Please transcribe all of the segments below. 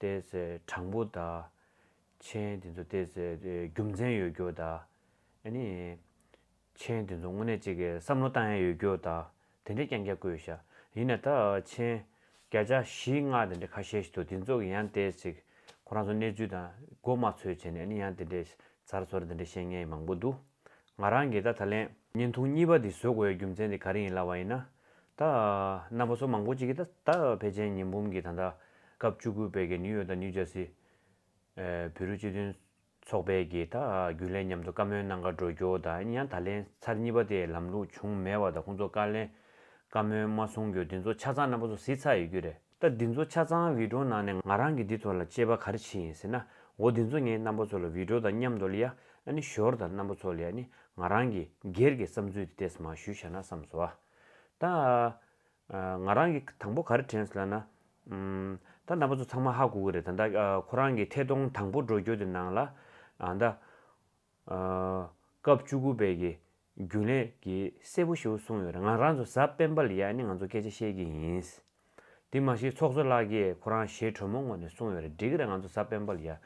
བལྟས་ཚེ་དྲང་པོ་དང། མཆན་དེ་ཚོ་བལྟས་ཚེ་རྒྱུ་མཚན་ཡོད་རྒྱུ་དང། མཆན་དེ་ཚོ་དངོས་གནས་གཅིག་གིས་བསམ་བློ་བཏང་ཡས་ཡོད་རྒྱུ་དང། དེ་འདྲའི་རྐྱང་རྐྱང་བཀོད་ཤག་ཡིན་ནས་ད་མཆན་བརྒྱ་ཆ་བཞི་ལྔ་དེ་འདྲ་ཁ་ཤས་ཤིག་འདུག་དེ་ཚོ་གི་ཡང་བལྟས་ཚེ་ཁོ་རང་ཚོ་གནས་ཚུལ་དང་མགོ་དམར་འཚོལ་བྱས་ནས་ཡང་དེ་འདྲའི་ཟར་ཟོར་དེ་འདྲ་བཤད་མཁན་མང་པོ་འདུག། ང་རང་གིས་ད་ད་ལན། བརྙན་ཐུང་གཉིས་པ་འདི་བཟོ་དགོས་པའི་རྒྱུ་མཚན་དེ་ག་རེ་ཡིན་ལབ་པ་ཡིན་ན། ད། རྣམ་པ་ཚོ་མང་པོ་ཅིག་གིས་ད་ད་བེ་ཅན་ཉི་འབུམ་གྱིས་ད་ལྟ། སྐབས་བཅུ་དགུ་པའི་གི་ནིའུ་ཡོག་དང་ནིའུ་ཇར་སི། བོད་རིགས་སྤྱི་མཐུན། ཚོགས་པའི་གིས་ད་རྒྱུན་ལས་མཉམ་དུ་བཀའ་མོལ་གནང་ག་འགྲོ་རྒྱོ་ད་ཡིན་ཡང་ད་ལན་ཚར་གཉིས་པ་དེའི་ལམ་ལུགས་བྱུང་མེད་བ་ད་ཁོང་ཚོ་བཀའ་ལན། བཀའ་མོལ་མ་གསུང་རྒྱུ་འདི་ཚོ་ཆ་ཚང་རྣམ་པ་ཚོ་གཟིགས་ཚར་ཡོད་རྒྱུ་རེད། ད་འདི་ཚོ་ཆ་ཚང་བིད་འགྲོ་ནང་ནས་ང་རང་གིས་འདི་ཚོ་ལ་དཔྱད་པ་ག་རེ་བྱེད་ཡིན་ཟེར་ན་འོ་འདི་ཚོ་ངའི་རྣམ་པ་ཚོ་ལ་བིད་འགྲོ་དང་མཉམ་དོ་ལི་ཡ་ཨ་ནི་ཞོར་དང་རྣམ་པ་ཚོ་ལི་ཡ་ནི་ང་རང་གིས་སྒེར་གྱི་བསམ་ཚུལ་དེ་དེས་མ་ཞུས་བྱ་ན་བསམ་སོ། ད་ང་རང་གིས་དང་པོ་ག་རེ་དྲན་ཟེར་ལ་ན། ད་རྣམ་པ་ཚོ་ཚང་མ་ཧ་གོ་གི་རེད་ད་ད་ཁོ་རང་གི་ཐད་གཏོང་དང་པོ་འགྲོ་རྒྱུ་དེ་ནང་ལ། ད། སྐབས་བཅུ་དགུ་པའི་གི་རྒྱུན་ལས་ཀྱིས་གསལ་པོ་ཞུ་གསུངས་ཡོད་རེད་ང་རང་ཚོ་གཟའ་སྤེན་པ་ལ་ཡག་ནི་ང་ཚོ་སྐད་ཆ་བཤད་ཀྱི་ཡིན། དེ་མ་གཞི་ཚོགས་གཙོ་ལགས་ཀྱིས་ཁོ་རང་ཞེ་དྲོན་མོ་ངོ་ནས་གསུངས་ཡོད་རེད་འགྲིག་གི་རེད་ང་ཚོ་གཟའ་སྤེན་པ་ལ་ཡག་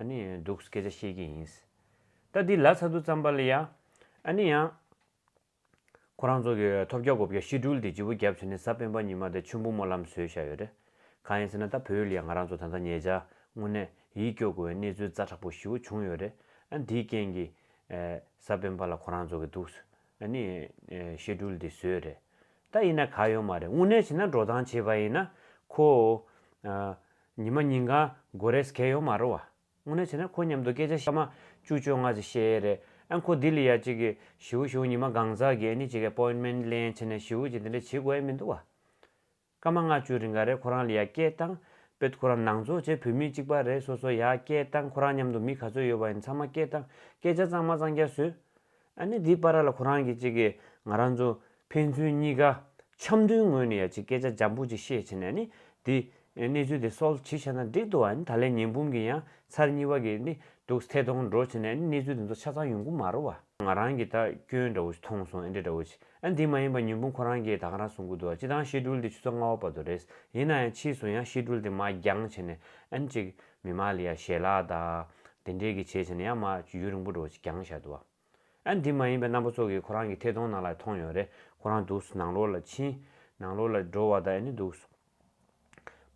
ནི་འདུག་སྐད་ཆ་བཤད་ཀྱི་ཡིན། ད་འདི་ལ་ཚ་དུ་བརྩམས་པ་ལ་ཡག་ནི་ཡང། ཁོ་རང་ཚོ་གི་ཐོབ་བརྒྱ་གོ་བརྒྱ་ཤི་དྲུལ་དེ་ལྗི་བོ་བརྒྱབ་ཚོད་ནི་གཟའ་སྤེན་པ་ཉི་མ་དེ་ཆུན་པོ་སྨོན་ལམ་བཟོས་བཞག་ཡོད་རེད། གང་ཡིན་ཟེར་ན་ད་བོད་ཡུལ་ལ་ཡང་ང་རང་ཚོ་ད་ལྟ་ཉེ་ཆར་དངོས་གནས་ཡིད་སྐྱོ་དགོས་བའི་གནས་ཚུལ་རྩ་དྲག་པོ་བཞི་བོ་བྱུང་ཡོད་རེད་ཨ་འདིའི་རྐྱེན་གྱིས་ས་བོན་པ་ལ་ཁོ་རང་རྫོགས་ཀྱི་འདུག། ནི། བཤད་སྒྲུལ་འདི་བཟོས་རེད། ད་ཡིན་ན་ག་ཡོད་མ་རེད་དངོས་གནས་བྱས་ན་འགྲོ་སྟངས་བྱས་པ་ཡིན་ན་ཁོ། ཉི་མ་ཉིན་གང་དགོས་རེས་གལ་ཡོད་མ་རེད་བ། དངོས་གནས་བྱས་ན་ཁོ་མཉམ་དུ་སྐད་ཆ་བཤད་མ་བཅུ་བཅོ་ལྔ་ཟིག་བཤད་ཡས་རེད་ཨ་ཁོ་ལྡི་ལི་ཡ་གཅིག་གི་ཞིའུ་གཞུང་ཉི་མ་གང་ཟག་གི་ཨ་ནི་གཅིག་གི appointment ལེན་བྱས་ནས་ཞིའུ་གཅིག་འདི་འདྲ་བྱེད་དགོས་ཨེ་མི་འདུག་བ། སྐར་མ་ལྔ་བཅུའི་རིང་ག་རེ་ཁོ་རང་ལ་ཡ་སྐྱེལ་བཏང། བེད་ཁོ་རང་ནང་འཚོ་བྱེད་བོད་མི་གཅིག་པ་རེད་སོ་སོ་ཡ་སྐྱེལ་བཏང་ཁོ་རང་མཉམ་དུ་མི་ག་ཚོད་ཡོད་པ་ཡིན་ཚང་མ་སྐྱེལ་བཏང་སྐད་ཆ་གཙང་མ་གཙང་རྒྱ་བཟོས། ཨ་ནེ་དེའི་པ་ར་ལ་ཁོ་རང་གིས་ཅིག་གིས་ང་རང་ཚོ་ཕན་ཚུན་གཉིས་ཀ་འཆམ་མཐུན་ངོས་ནས་ཡ་ཅིག་སྐད་ཆ་འཇམ་པོ་ཅིག་བཤད་བྱས་ནས་ཨ་ནེ་དེས་གནས་ཚུལ་དེ་སོལ་བྱེད་བྱས་ན་འགྲིག་འདུག་ཨ་ནེ་ད་ལན་ཉིན་འབུམ་གྱི་ཡང་ཚར་གཉིས་པ་གི་ནི་འདུག་སྟེ་ཐོང་འགྲོ་བྱས་ནས་ཨ་ནེ་གནས་ཚུལ་དེ་ཚོ་ཆ་ཚང་ཡོང་གི་མ་རོ་བ། ང་རང་གིས་ད་སྐྱོན་འདྲ་བོ་ཞིག་མཐོང་སོང་ཨེ་འདྲ་འདྲ་བོ་ཞིག་ཨ་འདི་མ་ཡིན་པ་ཉོན་སྤུན་ཁོ་རང་གིས་ད་ག་རང་གསུང་གི་འདུག་སྤྱི་བཏང་གཤེད་སྤྲུལ་འདི་ཆུ་ཚོད་ལྔ་བ་བར་དུ་རེད། ཡིན་ན་ཡང་ཕྱིས་སུ་ཡང་གཤེད་སྤྲུལ་དེ་མ་འགྱང་བྱས་ནས་ཨན་ཅིག་མི་མ་ལི་ཡ་ཞལ་ལག་དང། དེ་འདྲས་གི་བྱས་བྱས་ནས་ཡང་མ་ཅིག་ཡུན་རིང་པོ་འགྲོ་བྱས་འགྱང་བྱས་འདུག། ཨ་འདི་མ་ཡིན་པའི་རྣམ་པ་ཚོགས་གིས་ཁོ་རང་གི་ཐད་གཏོང་ནང་ལ་མཐོང་ཡོད་རེད་ཁོ་རང་འདུག་ནང་ལོག་ལ་ཕྱིན། ནང་ལོག་ལ་འགྲོ་བ་དང་ཨ་ནི་འདུག་སོང།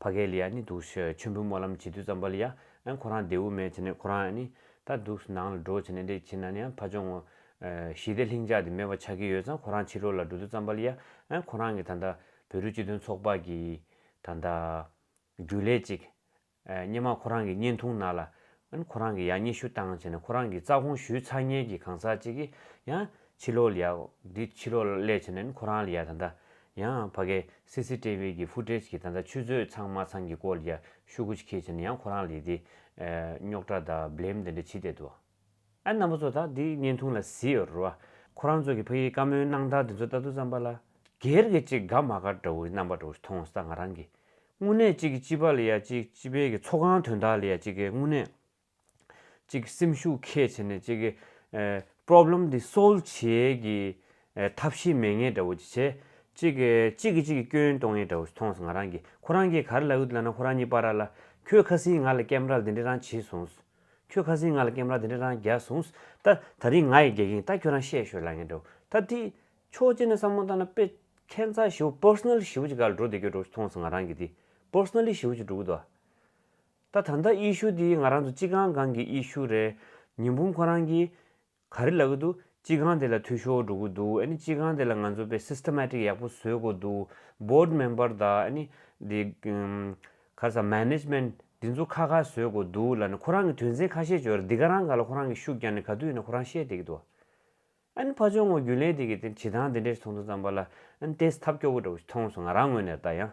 ཕ་གའི་ལི་ཡ་ནི་འདུག་ཤི་ཆོས་འབུལ་སྨོན་ལམ་བྱེད་དུས་ཙམ་པ་ལི་ཡ་ཨན་ཁོ་རང་དེའུ་མེད་བྱས་ནས་ཁོ་རང་ཨནི་ད་འདུག་སི་ནང་ལ་འགྲོ་བྱས་ནས་འདི་བྱས་ནའནི་ཨན་ཕ་ཆོང་ངོ། ཞི་བདེ་ལྷིང་འཇགས་དེ་མེད་པ་ཆགས་ཀྱི་ཡོད་ཙང་ཁོ་རང་ཕྱི་ལོག་ལ་འགྲོ་དུས་ཙམ་པ་ལི་ཡ་ཨན་ཁོ་རང་གིས་ད་ལྟ་བོད་རིགས་སྤྱི་མཐུན་ཚོགས་པ་གིས་ད་ལྟ། རྒྱུན་ལས་གཅིག། སྙེ་མ་ཁོ་རང་གི་བརྙན་ཐུང་ནང་ལ། ཨན་ཁོ་རང་གི་ཡང་སྙེ་ཤུ་བཏང་བྱས་ནས་ཁོ་རང་གི་རྩ་ཁོང་ཞུས་ཚར་ཉེན་གྱི་གང་ཟག་ཅིག་གིས་ཡང་ཕྱི་ལོག་ལ་ཡ། འདི་ཕྱི་ལོག་ལ་སླེབས་བྱས་ནས་ཨན་ཁོ་རང་ལ་ཡ་ད་ལྟ། ཡང་ཕ་གའི་སི་སི་ཏེ་བྷི་གི་ཕུ་ཏྲེ་ཇ་གིས་ད་ལྟ་ཆུ་ཚོད་ཚང་མ་ཚང་གི་སྐོར་ལ་ཡ་ཤུ་གུ་ཅི་ཁེ་བྱས་ནས་ཡང་ཁོ་རང་ལ་ཡི་དེ། རྙོག་དྲ་དང་བསླེམ་དེ་འདྲ་ཇི་སྟེ་འདུག་ཨང། ཨ་རྣམ་པ་ཚོ་དག་འདིའི་བརྙན་ཐུང་ལ་བཟི་ཡོད་རུ་ཨ། ཁོ་རང་ཚོ་གི་ཕ་ཡིའི་བཀའ་མོལ་གནང་སྟངས་དེ་ཚོ་ལྟ་དུས་བསམ་པ་ལ། སྒེར་གྱི་གཅིག་དགའ་མ་དགའ་འདྲ་བོ་རྣམ་པ་འདྲ་བོ་ཞིག་མཐོང་ས་ང་རང་གི། དངོས་གནས་གཅིག་གི་སྤྱི་པ་ལ་ཡ་གཅིག་སྤྱི་པའི་གི་ཚོགས་ཁང་དོན་དག་ལ་ཡ་གཅིག་གི་དངོས་གནས། གཅིག་སེམས་ཤུགས་ཁས་བྱེད་ནས་གཅིག་གི། Problem འདི Solve བྱེད་ཀྱི། ཐབས་ཤེས་མེད་ངེས་འདྲ་བོ་ཅིག་བྱེད། གཅིག་གི་གཅིག་གི་གཅིག་གི་སྐྱོན་གཏོང་ངེས་འདྲ་བོ་ཞིག་མཐོང་ས་ང་རང་གི། ཁོ་རང་གིས་ག་རེ་ལ་འུད་ལ་ན་ཁོ་རང་གཉིས་པ་ར་ལ། ཁྱོས་ཁ་སིང་ང་ལ་སྐེམ་ར་ལ་འདི་འདྲ་རང་བྱེད་སོང་ཟེར། ཁྱོད་ཁ་ཟིང་ང་ལ་ཀེམ་ར་དེ་འདྲ་རང་རྒྱག་སོང། ད་ད་རིང་ང་ཡིས་རྒྱག་གིན་ད་ཁྱོད་རང་བཤད་ཤོད་ལ་ངས་འདྲ་བོ། ད་དེ། ཆོག་རྗེས་ནས་བསམ་བློ་བཏང་ན་དཔེ། ཁྱད་མཚར་ཞི་བོ Personal ཞི་བོ་ཅིག་ག་ལ་འགྲོ་བདེ་ཁྱོད་འགྲོ་མཐོང་སོང་ང་རང་གིས་དེ། Personally ཞི་བོ་ཅིག་འགྲོ་གི་འདུག་ཨ། ད་ད་ལྟ་ཨི་ཤུ་དེ་ང་རང་ཚོ་གཅིག་གང་གང་གི་ཨི་ཤུ་རེད། ཉིན་འབུམ་ཁོ་རང་གིས། ག་རེ་ལབ་གི་འདུག་སྤྱི་ཁང་དེ་ལ་འཐུས་ཤོར་འགྲོ་གི་འདུག་ཨ་ནི་སྤྱི་ཁང་དེ་ལ་ང་ཚོ་དཔེ Systematic ཡག་པོ་བཟོས་དགོས་འདུག Board Member དང་ཨ་ནི་དེ་ག་ས Management དེ་ཚོ་ཁ་ཁ་བཟོས་དགོས་འདུག་ལ་ནི་ཁོ་རང་གི་དོན་ཚན་ཁ་ཤས་བརྗོད་ར་འདི་ག་རང་ག་ལ་ཁོ་རང་གི་ཤུགས་རྐྱང་ནི་ག་དུས་ཡིན་ན་ཁོ་རང་བཤད་བསྡད་ཀྱི་འདུག་ཨ་ནི་ཕ་ཆོས་ངོ་རྒྱུན་ལས་དེ་གི་དེ་བྱེད་སྟངས་དེ་འདྲས་ཚོགས་འདུ་བརྩམས་པ་ལ་ཨ་ནི་ཏེས་ཐབས་སྐྱོ་བོ་འདྲ་བོ་ཞིག་མཐོང་སོང་ང་རང་ངོས་ནས་ད་ཡང་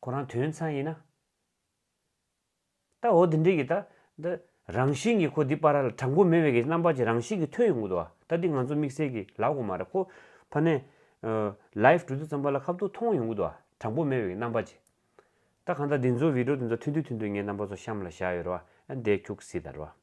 ཁོ་རང་དོན་ཚན་ཡིན་ན། ད་འོ་དེ་འདྲས་ཀྱི་ད་འདི་རང་བཞིན་གྱི་ཁོ་འདི་པ་ར་ལ་དྲང་པོ་མེད་པའི་གི་རྣམ་པ་ཅིག་རང་བཞིན་གྱི་ཐོས་ཡོང་གི་འདུག་ཨ་ད་འདི་ང་ཚོ་དམིགས་བསལ་གྱི་ལབ་དགོས་མ་རེད་ཁོ་ཕ་ནས Live གྲུ་བསྡུ་ཙམ་པ་ལ་ཁ་བཏུག་མཐོང་ཡོང་གི་འདུག་ཨ་དྲང་པོ་མེད་པའི་གི་རྣམ་པ་ཅིག་ད་གང་ལྟར་འདི་ཚོ Video དེ་ཚོ་ཐུན་དུ་ཐུན་དུ་ངའི་རྣམ་པ་ཚོ་གཤམ་ལ་བཞག་ཡོད་རེད་བ་ཨ་འདས་འཁྱུག་སྲིད་ད་རེད་བ།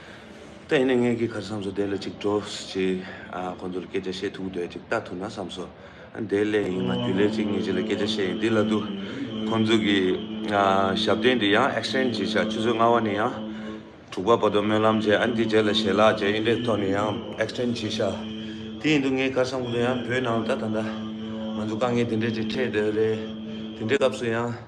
ད་ཡིན་ནས་ངེད་ཀྱིས་གར་བསམ་སོ་དེ་ལ་ཅིག་འགྲོ། ཅེས་ཁོ་ཚོར་སྐད་ཆ་བཤད་ཐུབ་འདོད་ཅིག་ལྟ་ཐུབ་ན་བསམ་སོ། དེའི་སླད་ཡིན་ང་རྒྱུན་ལས་ཅིག་ངེད་གཅིག་ལ་སྐད་ཆ་བཤད་ཡིན་འདི་ལ་དུ། ཁོ་ཚོ་གི་ཞབས་བརྟན་འདི་ཡང Exchange ཅིག་བྱ་ཆུ་ཚོད་ལྔ་བ་ནས་ཡང། དྲུག་པ་བར་དུ་སྨོན་ལམ་བྱས་འདི་རྗེས་ལ་ཞལ་ལག་མཇལ་ཡིན་འདྲའི་ཐོག་ནས་ཡང Exchange ཅིག་བྱ། དེ་ཡིན་དུ་ངས་གར་བསམ་ཁོ་ཚོ་ཡང་བོད་ནང་ད་ད་ད། ང་ཚོ་དཀའ་ངལ་དེ་འདྲའི་ཅིག་འཕྲད་འདོད་རེད། དེ་འདྲའི་སྐབས་སུ་ཡང།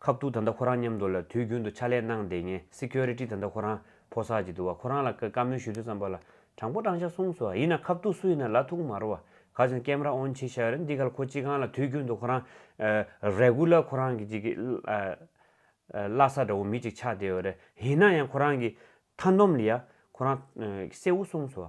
ཁབ་ཏུ་ད་ལྟ་ཁོ་རང་མཉམ་དུ་ལ་དུས་རྒྱུན་དུ་ཕྱག་ལས་གནང་བདེ་ངན Security ད་ལྟ་ཁོ་རང་ཕོ་སར་གྱི་འདུག་བ་ཁོ་རང་ལ་བཀའ་མོལ་ཞུ་དུས་ཙམ་པ་ལ་དྲང་པོ་དྲང་བཞག་གསུངས་སོ་ཡིན་ན་ཁབ་ཏུ་སུ་ཡིན་ན་ལ་ཐུག་མ་རོ་བ་ག་ཅིག་ན Camera on བྱེད་ཤག་རེད་འདི་ག་ལ་ཁོ་ཅི་གང་ལ་དུས་རྒྱུན་དུ་ཁོ་རང Regular ཁོ་རང་གི་ཅིག་གི་བླ་ས་འདྲ་བོ་མི་ཅིག་ཆགས་བསྡད་བ་རེད་ཡིན་ན་ཡང་ཁོ་རང་གི་མཐའ་འདོམ་ལ་ཡ་ཁོ་རང་གསལ་བོ་གསུངས་སོ།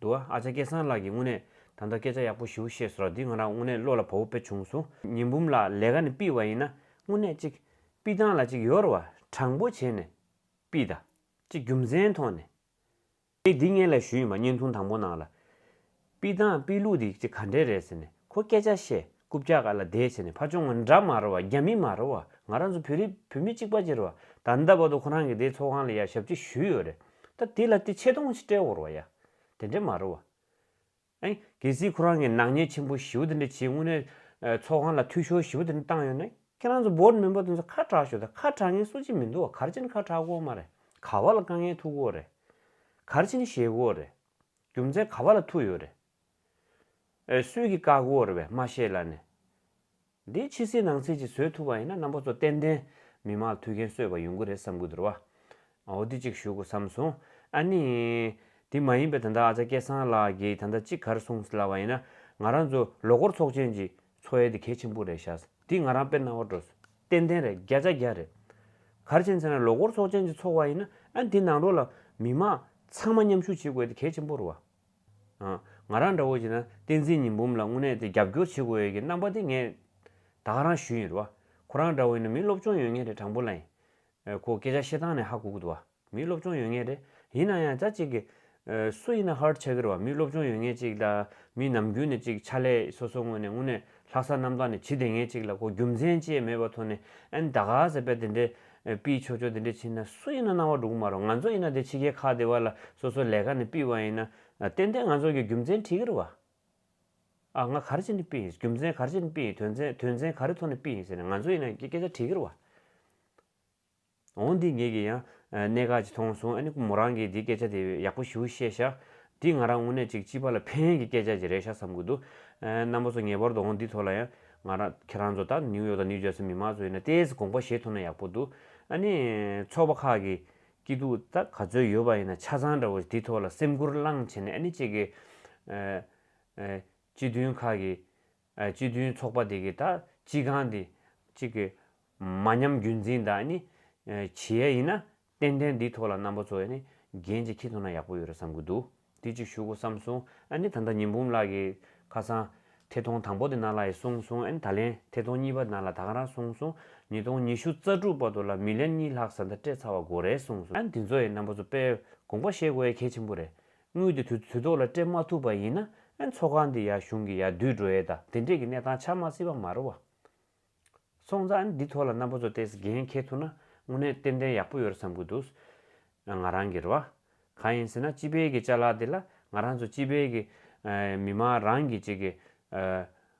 འདུག་ཨ་ཅག་སྐལ་བཟང་ལགས་ཀྱིས་དངོས་གནས་ད་ལྟ་སྐད་ཆ་ཡག་པོ་ཞུ་ཤེས་སོ་ར་འདི་ང་རང་དངོས་གནས་བློ་ལ་བོ་བོ་དཔེ་བྱུང་སོང་ཉི་འབུམ་ལགས་ལས་ཀ་ནི་པི་བ་ཡིན་ན་དངོས་གནས་གཅིག་པི་ཏང་ལ་ཅིག་ཡོར་བ་དྲང་པོ་བྱེད་ནས་པི་ད་ཅིག་རྒྱུ་མཚན་ཐོག་ནས་ངས་འདི་ངས་ལས་ཞུ་ཡིན་པ་བརྙན་ཐུང་དང་པོ་ནང་ལ་པི་ཏང་པི་ལུགས་འདི་ཅིག་ག་འདྲས་རེད་ཟེར་ནས་ཁོ་སྐད་ཆ་བཤད། རྐུབ་བཀྱག་ག་ལ་བདེ་བྱས་ནས་ཕ་ཆུང་ང་འདྲ་མ་རེད་བ་རྒྱ་མི་མ་རེད་བ་ང་རང་ཚོ་བོད་རིགས་བུད་མེད་གཅིག་པ་གཅིག་རེད་བ་ད་ལྟ་བར་དུ་ཁོ་རང་གི་དེ་ཚོགས་ཁང་ལ་ཡ་ཞབས་ཀྱི་ཞུས་ཡོད་རེད་ད་དེ་ལ་དེ་ཆེ་མཐོང་ཆེ་སྤྲད་འོར་བ་ཡ་དེ་འདྲ་མ་རེད་བ། ཨེ། གལ་སྲིད་ཁོ་རང་གི་ནག་ཉེས་ཆེན་པོ་ཞིའུ་དེ་འདྲ་བྱས་དངོས་གནས་ཚོགས་ཁང་ལ་འཐུས་ཤོར་ཞིའུ་དེ་འདྲ་བཏང་ཡོད་ན་ཁྱེད་རང་ཚོ་བོད་མི་པོ་དེ་ཚོ་ཁ་གྲགས་ཞོ་ད་ཁ་གྲགས་ངན་སུ་གཅིག་མི་འདུག་བ་གར་ཆེན་ཁ་གྲགས་དགོ་མ་རེད་ག་བ་ལ་དཀའ་ངལ་ཐུག་དགོ་རེད་གར་ཆེན་ཞེ་དགོ་རེད་རྒྱུ་མཚན་ག་བ་ལ་ཐུག་ཡོད་རེད། འོད་སྲུལ་གྱི་བཀའ་བསྒོར་བའི་སྨྲ་ཤེས་ལ་ནི། འདི་ཕྱི་སྲིད་ནང་སྲིད་ཀྱི་བཟོད་ཐུབ་པ་ཡིན་ན་རྣམ་པ་ཚོ་ཏན་ཏན་མི་མ་ཐུག་མཁན་གསོད་པ་ཡོང་གི་རེད་བསམ་གི་འདུར་བ། འོ་དེ་གཅིག་ཞུ་གོ་བསམ་སོང། ཨ་ནི། དེ་མ་ཡིན་པའི་ད་ལྟ་ཨ་ཙཱ་སྐལ་བཟང་ལགས་ཀྱིས་ད་ལྟ་གཅིག་གར་སོང་སླ་བ་ཡིན་ན་ང་རང་ཚོ་ལོ་འཁོར་ཚོགས་ཆེན་གྱི་འཚོ་ཡལ་དེ་གལ་ཆེན་པོ་རེད་ཤག་དེ་ང་རང་དཔེར་རྣ་བར་འགྲོ་སོང་ཏན་ཏན་རེད་བརྒྱ་ཆ་བརྒྱ་རེད། གར་བྱེད་ཚེ་ན་ལོ་འཁོར་ཚོགས་ཆེན་གྱི་འཚོགས་བ་ཡིན་ན་ཨ་ནི་དེ་ནང་རོ་ལ་མི་མང་ཚང་མ་མཉམ་ཞུགས་བྱེད་དགོས་དེ་གལ་ཆེན་པོ་རུ་བ། ང་རང་འདྲ་བོ་བྱས་ན་བསྟན་འཛིན་ཉི་འབུམ་ལ་དངོས་གནས་དེ་རྒྱབ་སྐྱོར་བྱེད་དགོས་ཡོད་ཀྱི་རྣམ་པ་དེ་ངས་དག་རང་ཞུས་ཡིན་རུ་བ། ཁོ་རང་འདྲ་བོ་ཡིན་ན་མི་སློབ་སྤྱོང་ཡོད་ངེས་རེད་དྲང་པོ་ལ་ཡིན། ཁོ་སྐད་ཆ་བཤད་སྟངས་ནས་ཧ་གོ་གི་འདུག་བ། མི་སློབ་སྤྱོང་ཡོད་ངེས་རེད། ཡིན་ན་ཡང་ཅག་ཅིག་གིས། སུ་ཡིན་ན་ཧར་ཆགས་ཀྱི་རུ་བ་མི་སློབ་སྤྱོང་ཡོད་ངེས་ཅིག་ལ་མི་ནམ་རྒྱུན་ནས་ཅིག་ཕྱག་ལས་སོ་སོ་དངོས་ནས་དངོས་གནས་ལྷ་ས་གནམ་ཐང་ནས་བྱི་དེ་ངན་ཅིག་ལ་གོ་རྒྱུ་མཚན་བཅས་མེད་པ་ཐོ་ནས་ཨན་ད་ག་ཟེ་པད་དེ་འདྲས་པིས་ཆོ་ཆོ་དེ་འདྲས་བྱིན་ན་སུ་ཡིན་ན་སྣང་བ་འགྲུག་མ་རོག་ང་ཚོ་ཡིན་ན་དེ་ཕྱི་གའི་ཁ་དེ་བ་ལ་སོ་སོ་ལས་ཀ་ནས་པིས་བ་ཡིན་ན་ཏན་ཏན་ང་ཚོ་གི་རྒྱུ་མཚན་ཁྲིག་གིར་བ་ཨ་ང་གར་བྱིན་ནས་པིས་རྒྱུ་མཚན་གར་བྱིན་པིས་དོན་མཚན་དོན་མཚན་ག་རེ་ཐོ་ནས་པིས་ཟེར་ནས་ང་ཚོ་ཡིན་ན་སྐད་ཆ་ཁྲིག་གིར་བ། འོང་འདི་ངེད་ཀྱི་ཡང་གནད་འགག་ཅིག་མཐོང་སོང་ཨ་ནི་མོ་རང་གིས་འདི་སྐད་ཆ་དེ་ཡག་པོ་ཞུ་བཤད་བཞག་འདི་ང་རང་དངོས་གནས་ཅིག་སྤྱི་པ་ལ་ཕན་ཡོན་གྱི་སྐད་ཆ་ཅིག་རེད་ཤག་བསམ་གི་འདུག་རྣམ་པ་ཚོ་ངེས་པར་དུ་འོང་འདི་ཐོག་ལ་ཡང་ང་རང་ཁྱེད་རང་ཚོ་ད་ནིའུ་ཡོག་དང་ནིའུ་ཇར་སི་མི་མང་ཚོ་ཡིན་ན་ལྟས་ཀྱི་དགོངས་པ་བཞེས་ཐུབ་ན་ཡག་པོ་འདུག་ཨ་ནི་ཚོགས་པ་ཁག་གི་སྐྱིད་སྡུག་ད་ག་ཚོད་ཡོད་པ་ཡིན་ན་ཆ་ཚང་འདྲ་བོ་འདི་ཐོག་ལ་སེམས་ཁུར་བླངས་བྱས་ནས་ཨ་ནི་བཅས་ཀྱི་སྤྱི་མཐུན་ཁག་གི་སྤྱི་མཐུན་ཚོགས་པ་དེ་གི་ད་སྤྱི་ཁང་དེ་གཅིག་གི་མ་ཉམས་རྒྱུན་འཛིན་དག་ནི་བྱེད་ཡ་ཡིན་ན་ཏན་ཏན་འདི་ཐོག་ལ་རྣམ་པ་ཚོ་ཡ་ནི་རྒན་གཅིག་ཁྱེད་ཚོ་ན་ཡག་པོ་ཡོད་རེད་བསམ་གི་འདུག་དེ་གཅིག་ཞུ་གོ་བསམ་སོང་ཨ་ནི་ད་ལྟ་ཉི་འབུམ་ལགས་ཀྱི་ཁ་སང་ཐད་ཐོང་དང་པོ་དེ་ན་ལ་ཡི་གསུང་སོང་ཨ་ནི་ད་ལན་ཐད་ཐོང་གཉིས་པ་ན་ལ་ད་ག་རང་གསུང་སོང་ཉིས་སྟོང་ཉི་ཤུ་རྩ་དྲུག་པ་དོ་ལ་མི་ལན་གཉིས་ལྷག་ཟ་མཐའ་སྤྲད་ཚར་བ་གོ་རེད་གསུང་སོང་ཨ་ནི་དེ་ཚོ་ཡི་རྣམ་པ་ཚོ་དཔེ་དགོངས་པ་བཤད་དགོས་ཡ་གལ་ཆེན་པོ་རེད་དངུལ་དེ་དུས་ཐོག་ལ་སྤྲད་མ་ཐུབ་པ་ཡིན་ན་ཨེ་ཚོགས་ཁང་འདི་ཡག་གཞུང་གི་ཡག་བསྡུས་འགྲོ་ཡས་ད་དེ་འདྲས་ཀྱི་གནས་སྟངས་ཆགས་མ་སྲིད་པ་མ་རེད་བ། སོང་ཙང་ཨེ་འདི་ཐོག་ལ་རྣམ་པ་ཚོ་བལྟས་འགན་འཁྱེར་ཐུབ་ན་དངོས་གནས་ཏན་ཏན་ཡག་པོ་ཡོད་རེད་བསམ་གི་འདུག་ང་རང་གིར་བ། གང་ཡིན་ཟེར་ན་སྤྱི་པའི་གི་བཅའ་ལག་འདི་ལ་ང་རང་ཚོ་སྤྱི་པའི་གི་མི་མང་རང་གི་བཅས་གི་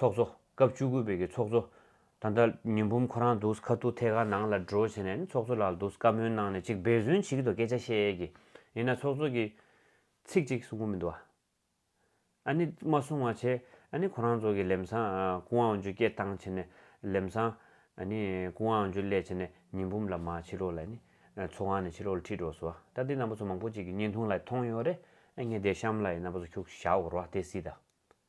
ཚོགས་གཙོ། སྐབས་བཅུ་དགུ་པའི་གི་ཚོགས་གཙོ། ད་ལྟ་ཉི་འབུམ་ཁོ་རང་འདུག་ཁ་ཐུག་ཐད་ཀར་ནང་ལ་འགྲོ་བྱས་ནས་ནི་ཚོགས་གཙོ་ལགས་ལ་འདུག་བཀའ་མོལ་གནང་ནས་ཅིག་འབད་བརྩོན་བྱེད་ཀྱི་འདུག་སྐད་ཆ་བཤད་ཀྱི་ཡིན་ན་ཚོགས་གཙོ་གི། ཚིག་ཅིག་གསུང་གི་མི་འདུག་ཨ། ཨ་ནི་མ་གསུང་བ་བྱས་ཨ་ནི་ཁོ་རང་ཚོ་གི་ལེམས་སང་ཀུན་དབང་ཇུ་སྐད་བཏང་བྱས་ནས་ལེམས་སང་ཨ་ནི་ཀུན་དབང་ཇུ་ལས་བྱས་ནས་ཉི་འབུམ་ལ་མ་ཕྱི་ལོག་ལ་ནི་ཚོགས་ཁང་ནས་ཕྱི་ལོག་ལ་ཁྲིད་འགྲོ་སོ་ད་འདི་ན་པོ་ཚོ་མང་པོ་ཅིག་གི་བརྙན་ཐུང་ལ་མཐོང་ཡོད་རེད་ཨ་ངས་དེ་གཤམ་ལ་ཡིན་ན་པོ་ཚོ་ཁྱུག་ཞག་འོར་བ་དེ་སྲིད་ད།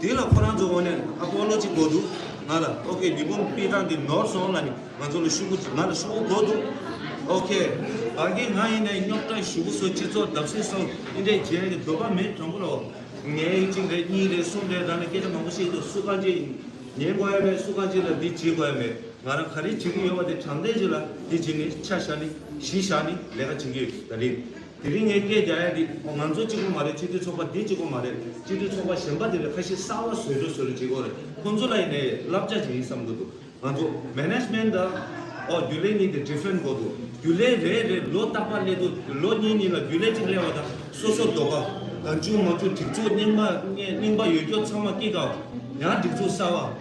དེ་ལ་ཁོ་རང་ཚོ་འོ་ནས་ཨ་ཕོ་བློ་ཅི་གོ་འདུག་ང་ལ་ཨོ་ཁེ་ཉི་འབུམ་དཔེ་དྲངས་ཏེ་ནོར་སོང་ལ་ནི་ང་ཚོ་ལ་ཤུ་གུ་ང་ལ་ཤུ་གུ་གོ་འདུག་ཨོ་ཁེ། བ་རྒན་ང་ཡིན་ནའི་རྙོག་དྲ་ཞུ་གུ་སོ་སྤྱི་ཚོགས་བརྡབ་གསིག་སོང་ཨེ་འདྲས་རྗེས་ནས་དོད་པ་མེད་དྲང་པོ་ལའོ། ངས་གཅིག་རེད་གཉིས་རེད་གསུམ་རེད་རང་ལ་སྐད་ཆ་མང་པོ་བཤད་འདུག་སུ་གང་ཅི་ཉན་དགོས་ཡ་མེད་སུ་གང་ཅི་ལ་འདི་བྱེད་དགོས་ཡ་མེད་ང་རང་ག་རེ་བྱེད་ཀྱི་ཡོད་པ་དེ་དྲང་བདེན་བྱེད་ལ་འདི་བྱེད་ནི་ཆ་བཞག་ནི་གཞི་བཞག་ནི་ལས་ཀ་བྱེད་ཀྱི་ཡོད་ད་རེད། དེ་རིང་ངས་སྐད་རྒྱག་ཡ་འདི་ང་ཚོ་གཅིག་པོ་མ་རེད་སྤྱི་འཐུས་ཚོགས་པ་འདི་གཅིག་པོ་མ་རེད་སྤྱི་འཐུས་ཚོགས་པ་གཞན་པ་དེ་རེད་ཁ་ཤི་གསར་བ་བཟོས་འགྲོ་བཟོས་འགྲོ་བྱེད་དགོས་རེད་ཁོ་ཚོ་ལ་ཡིན་ནའི་བསླབ་བྱ་ཞིག་ཡིན་བསམ་གྱི་འདུག་ང་ཚོ Management དང་ཨོ་རྒྱུ་ལས་གཉིས་དེ Different གོ་འདུག་རྒྱུ་ལས་རེད་རེད་ལོ་རྟག་པར་སླེབས་འདུག་ལོ་གཉིས་གཉིས་ལ་རྒྱུ་ལས་གཅིག་སླེབས་བ་དང་སོ་སོ་རྡོག་པ་གང་བྱུང་མ་བྱུང་སྒྲིག་འཛུགས་རྙིང་པ་རྙིང་པ་ཡོད་རྒྱུ་ཚང་མ་སྐྱེ་དགའ་བ་ཡང་སྒྲིག་འཛུགས་གསར་བ།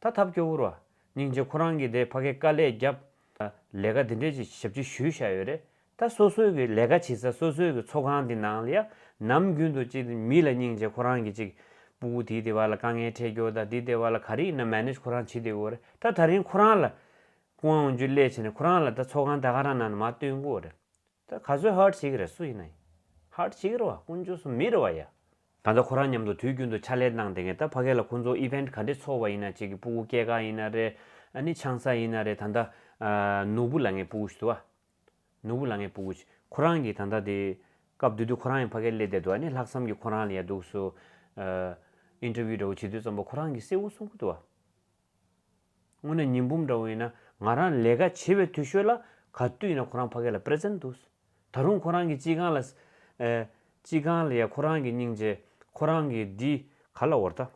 ད་ཐབས་སྐྱོ་བོར་བ། སྙིང་རྗེ་ཁོ་རང་གིས་དེ་ཕ་གའི་དཀའ་ལས་བརྒྱབ། ལས་ཀ་འདི་འདྲས་ཀྱི་ཞབས་ཕྱི་ཞུས་བཞག་ཡོད་རེད། ད་སོ་སོའི་གི་ལས་ཀ་བྱེད་ས་སོ་སོའི་གི་ཚོགས་ཁང་དེ་ནང་ལ་ཡ། ནམ་རྒྱུན་དུ་ཅིག་མི་ལ་སྙིང་རྗེ་ཁོ་རང་གིས་ཅིག། སྤུ་བོ་དེའི་དེ་བ་ལ་དཀའ་ངལ་འཕྲད་སྐྱོ་ད་དེའི་དེ་བ་ལ་ག་རིགས་ན་མཱེ་ནེཇ་ཁོ་རང་བྱེད་དེ་འོ་རེད་ད་ད་རིང་ཁོ་རང་ལ། སྐུ་དབང་འོང་རྒྱུ་སླད་ཕྱིན་ནས་ཁོ་རང་ལ་ད་ཚོགས་ཁང་ད་ག་རང་ནང་ན་མ་སྟོན་དགོས་རེད། ད་ག་ཚོད་ཧཱར་བྱེད་ཀྱི་རེད་སུ་ཡིན་ན་ཡིན་ཧཱར་བྱེད་ཀྱི་རེད་བ་ཀུན་སྤྱོད་སུ་མི་རེད་བ་ཡ། ད་ད་ཁོ་རང་མཉམ་དུ་དུས་རྒྱུན་དུ་ཕྱག་ལས་གནང་བསྡད་མཁན་ད་ཕ་གས་ལ་ཁོང་ཚོ Event ག་འདྲས་ཚོགས་བ་ཡིན་ན་བྱེད་ཀྱི་སྤུ་གུ་སྐྱེས་ག་ཡིན་ན་རེད་ཨ་ནི་ཆང་ས་ཡིན་ན་རེད་ད་ད་ནོར་བུ་ལ་ངས་སྤུ་གུ་ཞུ་དུ་བ་ནོར་བུ་ལ་ངས་སྤུ་གུ་ཞུ་ཁོ་རང་གིས་ད་ད་དེ་སྐབས་དུས་དུས་ཁོ་རང་ཡང་ཕ་གས་སླེ་བསྡད་དུ་བ་ནི་ལྷག་བསམ་གྱི་ཁོ་རང་ལ་ཡ་འདུག་སུ Interview འདྲ་བོ་བྱེད་དུས་ཙམ་པོ་ཁོ་རང་གིས་གསལ་བོ་གསུང་གི་དུ་བ། དངོས་གནས་ཉི་འབུམ་འདྲ་བོ་ཡིན་ན་ང་རང་ལས་ཀ་བྱེད་པའི་དུས་ཤོད་ལ་ག་དུས་ཡིན་ན་ཁོ་རང་ཕ་གས་ལ Present འདུག་ད་རུང་ཁོ་རང་གི་ཅི་གང་ལ་ཨེ། ཅི་གང་ལ་ཡ་ཁོ་རང་གི་སྙིང་རྗེ་ཁོ་རང་གི་འདི་ག་ལ་འོར་ད།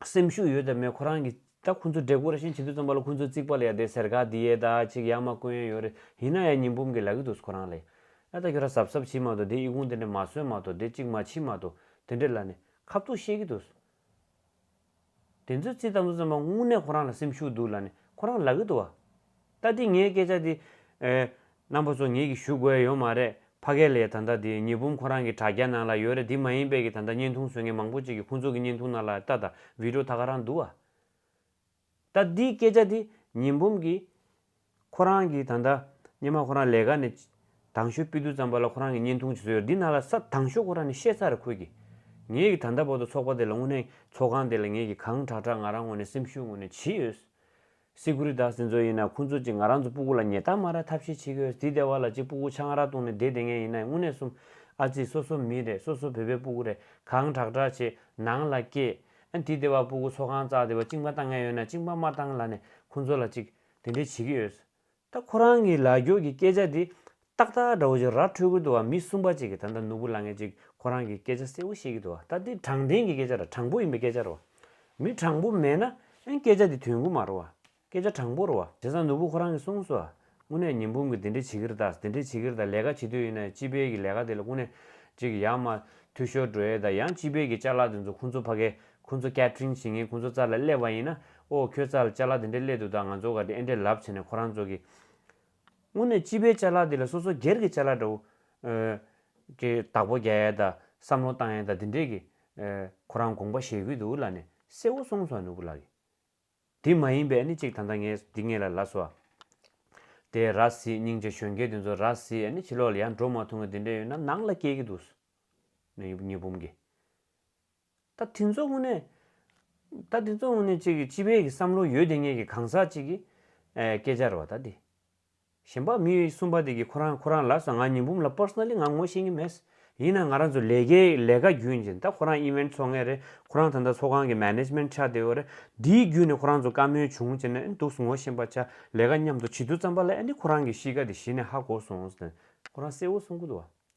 སེམས་ཤུགས་ཡོད་དམ་མེད་ཁོ་རང་གི་ད་ཁོ་ཚོ་འབྲས་བུ་ར་བཞིན་བྱེད་དུས་རྩོམ་པ་ལ་ཁོ་ཚོའི་རྩིག་པ་ལ་ཡ་དེ་ཟེར་ག་འདི་ཡས་ད་ཅིག་ཡ་མ་བསྐོན་ཡ་ཡོད་རེད་ཡིན་ན་ཡ་ཉི་འབུམ་གི་ལ་གི་འདུག་ཁོ་རང་ལ་ཡ་ད་ཁྱོད་ར་གཟབ་གཟབ་བྱེད་མ་འདུག་དེ་ཨི་གུང་དེ་འདྲ་མ་བཟོས་མ་འདུག་དེ་ཅིག་མ་བྱེད་མ་འདུག་དེ་འདྲ་ལ་ནས་ཁ་བཏུགས་བཤད་གི་འདུག། དེ་ཚོའི་ཚིག་ཙམ་ཙམ་མ་དངོས་གནས་ཁོ་རང་ལ་སེམས་ཤུགས་འདུག་ལ་ནི་ཁོ་རང་ལག་གི་འདུག་བ། ད་དེ་ངའི་སྐད་ཆ་དེ། རྣམ་པ་ཚོ་ངེད་ཀྱི་ཞུ་དགོས་ཡོད་མ་རེད་ཕ་སྐད་ལས་ད་ལྟ་དེ་ཉི་འབུམ་ཁོ་རང་གི་དྲ་རྒྱ་ནང་ལ་ཡོད་རེད་དེ་མ་ཡིན་པའི་གི་ད་ལྟ་བརྙན་ཐུང་བཟོས་མཁན་མང་པོ་ཅིག་གི་ཁོང་ཚོ་གི་བརྙན་ཐུང་ནང་ལ་ལྟ་ད་བིད་རོ་ད་ག་རང་འདུག་བ། ད་འདིའི་སྐད་ཆ་དེ་ཉི་འབུམ་གྱིས། ཁོ་རང་གིས་ད་ལྟ་སྙེ་མ་ཁོ་རང་ལས་ཀ་ནས་དྭངས་ཤོས་སྤི་རྡུལ་ཙམ་པ་ལ་ཁོ་རང་གིས་བརྙན་ཐུང་བྱེད་སྲོལ་ཡོད་འདི་ན་ལ་ས་དྭངས་ཤོས་ཁོ་རང་ནས་ཤེས་ཚར་རེ་ཁོད་གིས། ངེད་ཀྱིས་ད་ལྟ་བར་དུ་ཚོགས་པ་དེ་ལ་དངོས་གནས་ཚོགས་ཁང་དེ་ལ་ངེད་ཀྱིས་གང་དྲག་དྲག་ང་རང་ངོས་ནས་སེམས་ཤུགས་ངོས་ནས་བྱེད་ཡོད། སི་ཁུ་རི་ད་སེ་ཚོ་ཡིན་ན་ཁོ་ཚོ་གཅིག་ང་རང་ཚོ་སྤུ་གུ་ལ་ཉེ་རྟགས་མ་ར་ཐབས་ཤེས་བྱེད་ཀྱི་ཡོད་དེ་ལྟེ་བ་ལ་གཅིག་སྤུ་གུ་ཆང་ར་བཏུང་ནས་བསྡད་བསྡད་ངན་ཡིན་ན་དངོས་གནས་གསུམ་ཨ་ཙི་སོ་སོ་མི་རེད་སོ་སོ་བོད་པའི་སྤུ་གུ་རེད་གང་དྲག་དྲག་བྱེད་ནང་ལ་སྐྱེས། ཨ་འདི་དེ་བ་སྤུ་གུ་ཚོ་གང་བཙགས་དེ་བ་གཅིག་མ་བཏང་ངས་ཡོད་ན་གཅིག་མ་མ་བཏང་ལ་ནས་ཁོ་ཚོ་ལ་ཅིག་དེ་འདྲས་བྱེད་ཀྱི་ཡོད། ད་ཁོ་རང་གི་ལག་འགྱོག་གི་སྐད་ཆ་དེ་ཏག་ཏག་འདྲ་བོ་ཅིག་ར་འཕྲོད་ཀྱི་འདུག་བ་མི་གསུམ་པ་ཅིག་གིས་ད་ལྟ་ནོར་བུ་ལགས་ངས་ཅིག་ཁོ་རང་གི་སྐད་ཆ་གསལ་བོ་བཤད་ཀྱི་འདུག་བ་ད་འདི་དྲང་བདེན་གྱི་སྐད་ཆ་ར་དྲང་པོ་ཡིན་པའི་སྐད་ཆ་རོ། མི་དྲང་པོ་མེད་ན་ཨན་སྐད་ཆ་དེ་དོན་གུ་མ་རོ་བ། སྐད་ཆ་དྲང་པོར་བ། བྱས་ཙང་ནོར་བུ་ཁོ་རང་གིས་གསུངས་སོ། དངོས་གནས་ཉིན་འབུམ་གིས་འདི་འདྲའི་བྱེད་ཀྱིར་དང་དེ་འདྲའི་བྱེད་ཀྱིར་དང་ལས་ཀ་བྱེད་དུས་ཡིན་ན་སྤྱི་དཔལ་གྱི་ལས་ཀ་དེ་ལ་དངོས་གནས་ཅིག་ཡག་མ་འཐུས་ཤོར་འགྲོ་ཡས་དང་ཡང་སྤྱི་དཔལ་གྱི་བཅའ་ལག་དེ་ཚོ་ཁོང་ཚོ་ཕ་གས་ཁོང་ཚོ་སྐད་འཕྲིན་བྱེད་ངན་ཁོང་ཚོ་རྩར་ལ་སླེབས་བ་ཡིན་ན་ཨོ་ཁྱོད་རྩར་བཅའ་ལག་དེ་འདྲའི་སླེབས་འདུག་ད་ང་ཚོ་ག་དེ་ཨེ་འདྲའི་ལབ་བྱས་ནས་ཁོ་རང་ཚོ་གིས། དངོས་གནས་སྤྱི་དཔལ་བཅའ་ལག་དེ་ལ་སོ་སོ་སྒེར་གྱི་བཅའ་ལག་འདྲ་བོ། གི་བདག་པོ་རྒྱག་ཡས་དང་བསམ་བློ་བཏང་ཡས་དང་དེ་འདྲས་ཀྱིས། ཁོ་རང་དགོངས་པ་བཞེས་གྱི་འདུག་ལ་ནས་གསལ་བོ་གསུངས་སོང་ནོར་བུ་ལགས་ཀྱིས། དེ་མ་ཡིན་པས་ནི་གཅིག་ད་ལྟ་ངས་འདི་ངེད་ལ་ལ་སོ། དེ་ར་བཟི་སྙིང་རྗེ་གཞོན་སྐྱེས་དེ་ཚོ་ར་བཟི་ཨ་ནི་ཕྱི་ལོག་ལ་ཡར་འགྲོ་མ་ཐུང་གི་དེ་འདྲས་ཡོད་ན་ནང་ལ་སྐྱེལ་གི་འདུག་སོ། གཉིས་འབུམ་གྱི། ད་དེ་ཚོ་དངོས་གནས། ད་དེ་ཚོ་དངོས་གནས་གཅིག་གི་སྤྱི་པའི་གི་བསམ་བློ་ཡོད་དེ་ངེད་ཀྱི་གང་ཟག་གཅིག་གི། ཨེ་སྐད་སྦྱར་བ་ད་དེ། གཞན་པ་མི་གསུམ་པ་དེ་གིས་ཁོ་རང་ཁོ་རང་ལ་ཟ་ང་ཉིན་འབུམ་ལ Personally ང་ངོ་ཤེས་ངེས་མེད། ཡིན་ན་ང་རང་ཚོ་ལས་ཀའི་ལས་ཀ་བརྒྱུད་ནས་ད་ཁོ་རང Event ཚོགས་ངེས་རེད་ཁོ་རང་ད་ལྟ་ཚོགས་ཁང་གི Management ཆགས་བསྡད་ཡོད་རེད་དེའི་བརྒྱུད་ནས་ཁོ་རང་ཚོ་བཀའ་མོལ་བྱུང་བྱས་ནས་འདུག་ངོ་ཤེས་པ་ཆགས་ལས་ཀ་མཉམ་དུ་བྱེད་དུས་བརྩམས་པ་ལ་ཨ་ནི་ཁོ་རང་གི་གཤིས་ཀ་དེ་གཞི་ནས་ཧ་གོ་སོང། ཁོ་རང་གསལ་བོ་གསུང་གི་འདུག་བ།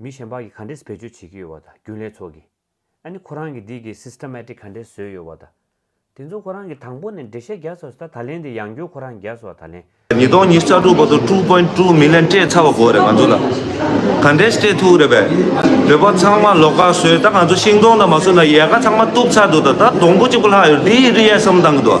མི་གཞན་པ་གིས་ག་འདྲེས་བེད་སྤྱོད་བྱེད་ཀྱི་ཡོད་བ་དང་རྒྱུན་ལས་ཚོགས་ཀྱིས་ཨ་ནི་ཁོ་རང་གི་འདི་གི Systematic ག་འདྲེས་བཟོས་ཡོད་བ་དང། དེ་ཚོ་ཁོ་རང་གིས་དང་པོ་ནས་འགྲེལ་བཤད་རྒྱག་ཚར་སོ་ད་ད་ལན་དེ་ཡང་སྐྱོར་ཁོ་རང་རྒྱག་སོ་ད་ལན། ཉིས་སྟོང་ཉིས་བརྒྱ་དྲུག་པ་དུ་དྲུག་པོའི་དྲུག་མི་ལན་སྤྲད་ཚར་བ་གོ་རེད་ང་ཚོ་ལ་ག་འདྲེས་སྤྲད་ཐུག་རེད་པས། བོད་པ་ཚང་མ་ལོག་ཁ་བཟོས་ད་ང་ཚོ་ཤིང་སྡོང་དང་མ་བཟོས་ན་ཡལ་ག་ཚང་མ་གཏུབ་ཚར་འདུག་ད་ད་སྡོང་པོ་གཅིག་པོ་ལྷག་ཡོད་རེད་འདི་ཡི་རི་ཡལ་གསུམ་བཏང་གི་འདུག།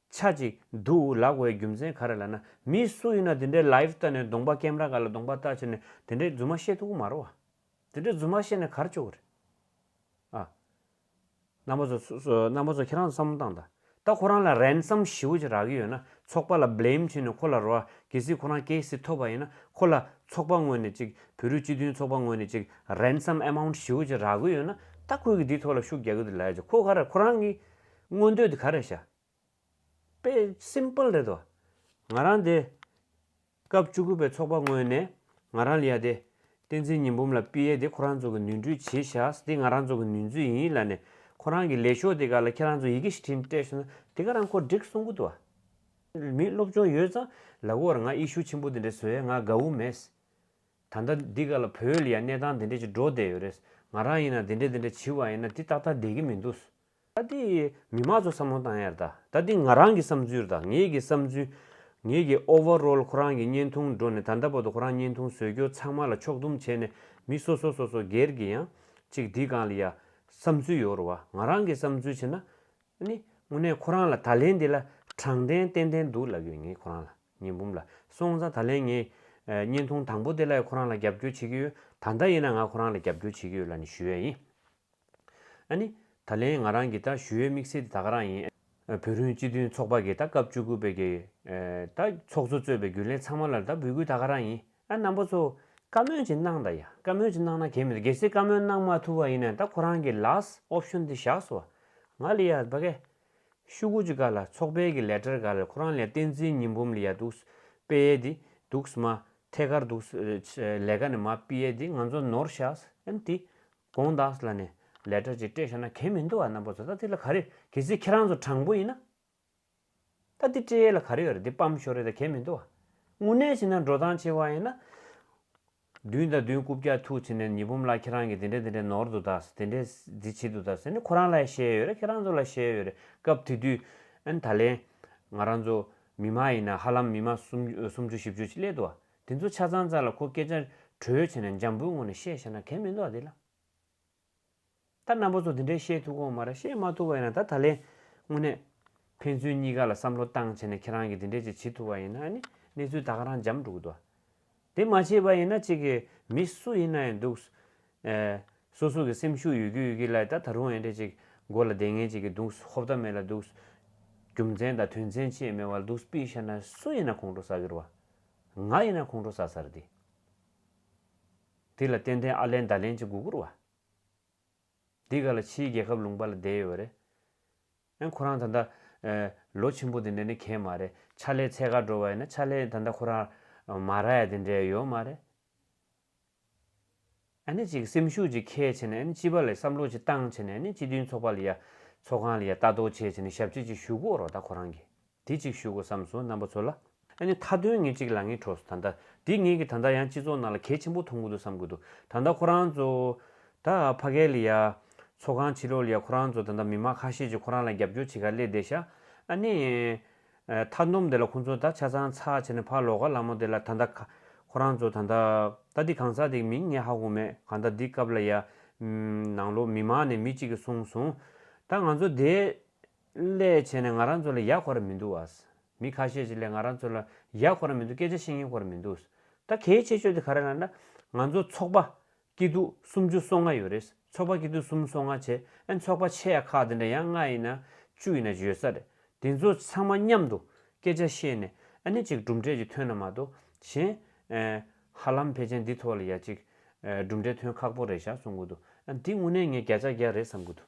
ཆ་གཅིག་འདུག་ལགས་བའི་རྒྱུ་མཚན་ག་རེ་ལ་ན་མི་སུ་ཡིན་ན་དེ་འདྲའི live ལྟ་ནས་གདོང་པ་ཀེམ་ར་ག་ལ་གདོང་པ་ལྟ་བྱེད་ནས་དེ་འདྲའི་རྫུན་མ་བཤད་ཐུག་གི་མ་རོ། དེ་འདྲའི་རྫུན་མ་བཤད་ནས་གར་བཅུག་གི་རེད། ཨ། རྣམ་པ་ཚོ་རྣམ་པ་ཚོ་ཁྱེད་རང་ཚོ་བསམ་བློ་བཏང་དང་ད་ཁོ་རང་ལ་རན་སམ་ཞི་བོ་ཅིག་རག་གི་ཡོད་ན་ཚོགས་པ་ལ blame བྱེད་ནས་ཁོ་ལ་རོ་གེ་སི་ཁོ་རང་གེ་སི་ཐོབ་པ་ཡིན་ན་ཁོ་ལ་ཚོགས་པ་ངོས་ནས་ཅིག་བོད་རིགས་སྤྱི་མཐུན་ཚོགས་པ་ངོས་ནས་ཅིག་རན་སམ amount ཞི་བོ་ཅིག་རག་གི་ཡོད་ན་ད་ཁོས་གི་དེའི་ཐོག་ལ་ཤུགས་རྒྱག་གི་འདུག་ལས་ཀྱི་ཁོ་ག་རེ་ཁོ་རང་གི་མངོན་འདོད་དེ་ག་རེད་བྱ། དཔེ simple རེད་དོ། ང་རང་དེ། སྐབས་བཅུ་དགུ་པའི་ཚོགས་པ་སྔོན་ནས་ང་རང་ལ་ཡ་དེ། བསྟན་འཛིན་ཉི་འབུམ་ལ་དཔེ་ཡས་དེ་ཁོ་རང་ཚོ་གི་ནུས་འཁྲུལ་བྱེད་བཞག་དེ་ང་རང་ཚོ་གི་ནུས་མཛོད་ཡིན་ལ་ནས་ཁོ་རང་གི་ལས་ཤོག་དེ་ག་ལ་ཁྱེད་རང་ཚོ་ཡི་གེ་ཞིག་འཕྲིན་སྤྲད་ཤོག་ན་དེ་ག་རང་ཁོ་འགྲིག་གསུང་གི་འདུག་ཨ། མི་སློབ་སྦྱོང་ཡོད་ཙང་ལ་གོ་བར་ང་ཨི་ཤུ་ཆེན་པོ་དེ་འདྲས་བཟོ་ཡས་ང་དགའ་བོ་མེད། ད་ལྟ་འདི་ག་ལ་བོད་ལ་ཡ་གནས་སྟངས་དེ་འདྲས་ཅིག་འགྲོ་བསྡད་ཡོད་རེད། ང་རང་ཡིན་ན་དེ་འདྲས་དེ་འདྲས་བྱི་བ་ཡིན་ན་དེ་ཏག་ཏག་བསྡད་གི་མི་འདུག། ད་འདི་མི་དམངས་ཚོ་བསམ་བློ་བཏང་ཡར་ད་ད་འདི་ང་རང་གི་བསམ་ཚུལ་དང་ངེད་ཀྱི་བསམ་ཚུལ། ངེད་ཀྱི Overall ཁོ་རང་གི་བརྙན་ཐུང་སྒྲོ་ནས་ད་ད་པོ་ཏོ་ཁོ་རང་བརྙན་ཐུང་བཟོས་སྐྱོར་ཚང་མ་ལ་ཕྱོགས་བསྡོམས་བྱས་ནས་མི་སོ་སོ་སོ་སོ་སྒེར་གྱི་ཡང་ཅིག་འདི་གང་ལ་ཡ་བསམ་ཚུལ་ཡོད་རུ་བ་ང་རང་གི་བསམ་ཚུལ་བྱས་ན་ནི་དངོས་གནས་ཁོ་རང་ལ་ད་ལན་འདི་ལ་དྲང་བདེན་ཏན་ཏན་འདུག་ལབ་ཡོད་ངེད་ཁོ་རང་ལ་ཉིན་འབུམ་ལ་སོང་ཙང་ད་ལན་ངས་བརྙན་ཐུང་དང་པོ་དེ་ལ་ཡ་ཁོ་རང་ལ་རྒྱབ་སྐྱོར་བྱེད་ཀྱི་ཡོད་ད་ལྟ་ཡིན་ན་ང་ཁོ་རང་ལ་རྒྱབ་སྐྱོར་བྱེད་ཀྱི་ཡོད་ལ་ནི་ཞུ་ཡ་ཡིན། ཨ་ནི། ད་ལན་ང་རང་གིས་ད་ཞུ་ཡོད་དམིགས་བསལ་དེ་ད་ག་རང་ཡིན། བོད་རིན་སྤྱི་མཐུན་ཚོགས་པ་གིས་ད་སྐབས་བཅུ་དགུ་པའི་གི། ད་ཚོགས་གཙོ་གཙོས་པའི་རྒྱུན་ལས་ཚང་མ་ལ་ད་འབུལ་སྐུལ་ད་ག་རང་ཡིན། ཨ་རྣམ་པོ་ཚོ། བཀའ་མོལ་ཅིག་གནང་ད་ཡ། བཀའ་མོལ་ཅིག་གནང་ན་གལ་མི་འདུག་གལ་སྲིད་བཀའ་མོལ་གནང་མ་ཐུབ་པ་ཡིན་ན་ད་ཁོ་རང་གིས last option དེ་བཞག་སོ། ང་ལི་ཡ་བ་ཀ། ཤུ་དགུ་ཅིག་ག་ལ་ཚོགས་པའི་གི་ལས་ཀྲར་ག་ལ་ཁོ་རང་ལས་བསྟན་འཛིན་ཉི་འབུམ་ལི་ཡ་འདུག། པེ་ཡེ་དི། འདུག་མ། ཐད་ཀར་འདུག། ལས་ཀ་ནི་མ་པི་ཡེ་དི་ང་ཚོ་ནོར་བཞག། ཨན་དི། དགོངས་དག་ལ་ནི་ལས་གྲོགས་ཀྱིས་སྤྲད་ཤོར་ན་གལ་མི་འདུག་བ་རྣམ་པ་ཚོ་ད་འདི་ལ་ག་རེ་གལ་སྲིད་ཁྱེད་རང་ཚོ་དྲང་པོ་ཡིན་ན། ད་འདི་སྤྲད་ཡས་ལ་ག་རེ་ཡོད་རེད་འདི་སྤམ་ཤོར་རེད་ད་གལ་མི་འདུག་བ། དངོས་གནས་བྱས་ན་འགྲོ་སྟངས་ཆེ་བ་ཡིན་ན། བདུན་དང་བདུན་རྐུབ་བཀྱག་ཐུག་བྱས་ནས་ཉི་འབུམ་ལགས་ཁྱེད་རང་གིས་འདི་འདྲ་འདི་འདྲ་ནོར་འདུག་ད་འདི་འདྲ་འདི་བྱེད་འདུག་ད་ཟེར་ནས་ཁོ་རང་ལ་ཡང་བཤད་ཡས་ཡོད་རེད་ཁྱེད་རང་ཚོ་ལ་བཤད་ཡས་ཡོད་རེད་སྐབས་དེ་དུས་ཨན་ད་ལན་ང་རང་ཚོ་མི་མ་ཡིན་ན་ཧ་ལམ་མི་མ་སུམ་སུམ་ཅུ་བཞི་བཅུ་ཅིག་སླེད་འདུག་བ་དེ་ཚོ་ཆ་ཚང་ཙར་ལ་ཁོ་སྐད་ཆ་གྲོས་བྱས་ན་འཇམ་པོའི་ངང་ནས་བཤད་བཞག་ན་གལ་མི་འདུག་ཨ་དེ་ལ། ད་རྣམ་པ་ཚོ་དེ་འདྲའི་བཤད་ཐུག་གོང་མ་ར་བཤད་མ་ཐུག་པ་ཡིན་ན་ད་ད་ལན། དངོས་གནས། ཕན་ཚུན་གཉིས་ཀ་ལ་བསམ་བློ་བཏང་བྱས་ན་ཁྱེད་རང་གིས་དེ་འདྲའི་ཅིག་བྱེད་ཐུག་པ་ཡིན་ན་ཨ་ནི་གནས་ཚུལ་ད་ག་རང་འཇམ་འགྲོ་གི་འདུག་ཨ། དེ་མ་བྱས་པ་ཡིན་ན་ཅིག་གིས་མི་སུ་ཡིན་ན་ཡང་འདུག། སོ་སོ་གི་སེམས་ཤུགས་ཡོད་ཀི་ཡོད་ཀི་ལ་ད་ད་རུང་ཨེ་འདྲས་ཅིག་མགོ་ལ་བདེ་ངན་བྱེད་ཀི་འདུག་ཧོབ་ཏ་མེད་ལ་འདུག། རྒྱུ་མཚན་དང་དོན་ཚན་ཆེད་མེད་བ་ལ་འདུག་སྤིས་བཤད་ན་སུ་ཡིན་ན་ཁོང་ཁྲོ་ཟ་གི་རུ་ཨ། ང་ཡིན་ན་ཁོང་ཁྲོ་ཟ་སར་དེ། དེ་ལ་ཏན་ཏན་ཨ་ལན་ད་ལན་གྱི་མགོ་སྒུར་བ། འདི་ག་ལ་ཕྱིའི་རྒྱལ་ཁབ་ལུང་པ་ལ་བསྡད་ཡོད་རེད། ཨེ་ཁོ་རང་ད་ལྟ། ལོ་ཆེན་པོ་དེ་འདྲ་ནི་གས་མ་རེད་ཕྱག་ལས་ཚད་ཁ་འགྲོ་བ་ཡིན་ན་ཕྱག་ལས་ད་ལྟ་ཁོ་རང། མ་ར་ཡ་དེ་འདྲས་ཡོད་མ་རེད། ཨཱ་ཅིག་སེམས་ཤུགས་ཀྱིས་ཁས་བྱས་ནས་སྤྱི་པ་ལས་བསམ་བློ་གྱི་སྟངས་བྱས་ནས་སྤྱི་མཐུན་ཚོགས་པ་ལ་ཡ། ཚོགས་ཁང་ལ་ཡ་ལྟ་རྟོག་བྱས་བྱས་ནས་ཞབས་རྗེས་ཅིག་ཞུ་དགོས་རོགས་ད་ཁོ་རང་གིས་དེ་ཅིག་ཞུ་དགོས་བསམས་སོ་རྣམ་པ་ཚོ་ལ། ཨཱ་ནི་མཐའ་དོན་ངེད་ཅིག་ལ་ངའི་གྲོགས་སུ་ད་ལྟ་དེ་ངེད་ཀྱི་ད་ལྟ་ཡང་སྤྱི་ཚོགས་ནང་ལ་གལ་ཆེན་པོ་མཐོང་གི་འདུག་བསམ་གི་འདུག་ད་ལྟ་ཁོ་རང་ཚོ། ད་ཕ་གའི་ལ་ཡ། ཚོགས་ཁང་ཕྱི་ལོགས་ལ་ཡ་ཁོ་རང་ཚོ་ད་ལྟ་མི་མང་ཁ་ཤས་ཀྱིས་ཁོ་རང་ལ་རྒྱབ་སྐྱོར་བྱེད་ཁར་སླེབས་བསྡད་ཤག་ཨཱ་ནི། མཐའ་འདོམས་དེ་ལ་ཁོང་ཚོ་ད་ཆ་ཚང་ཚགས་བྱས་ནས་ཕར་ལོག་ག་ལ་མོ་དེ་ལ་ད་ད་ཁ། ཁོ་རང་ཚོ་ད་ད། ད་འདི་གང་ཟག་དེའི་མིང་ངས་ཧ་གོ་མེད་གང་ད་འདི་སྐབས་ལ་ཡ། ནང་ལོག་མི་མང་ནས་མི་གཅིག་གིས་གསུངས་སོང། ད་ང་ཚོ་དེ། སླད་བྱས་ནས་ང་རང་ཚོ་ལ་ཡ་གོ་ར་མི་འདུག་ཨཱ། མི་ཁ་ཤས་ཀྱིས་སླད་ང་རང་ཚོ་ལ་ཡ་གོ་ར་མི་འདུག་སྐད་ཆ་བཤད་ཉན་གོ་ར་མི་འདུག། ད་གལ་ཆེ་ཤོས་དེ་ག་རེ་ལ་ན། ང་ཚོ་ཚོགས་པ། སྐྱིད་སྡུག་སུམ་ཅུ་སོ་ལྔ་ཡོད་རེད་ཚོགས་པ་སྐྱིད་སྡུག་གསུམ་སོ་ལྔ་བྱས་ཨེ་ཚོགས་པ་ཆེ་ཡ་ཁག་དེ་འདྲ་ཡང་ལྔ་ཡིན་ན་བཅུ་ཡིན་ན་བརྗོད་ས་རེད་དེ་ཚོ་ཚང་མ་མཉམ་དུ་སྐད་ཆ་བཤད་ནས་ཨེ་ནི་ཅིག་གྲུབ་འབྲས་ཀྱི་ཐོན་ན་མ་གཏོགས་གཞན་ཧ་ལམ་ཕལ་ཆེན་འདི་ཐོག་ལ་ཡ་ཅིག་གྲུབ་འབྲས་ཐོན་ཁག་པོ་རེད་ཞག་གསུང་གི་འདུག་འདི་དངོས་གནས་ངས་བརྒྱ་ཆ་བརྒྱ་རེད་བསམ་གི་འདུག།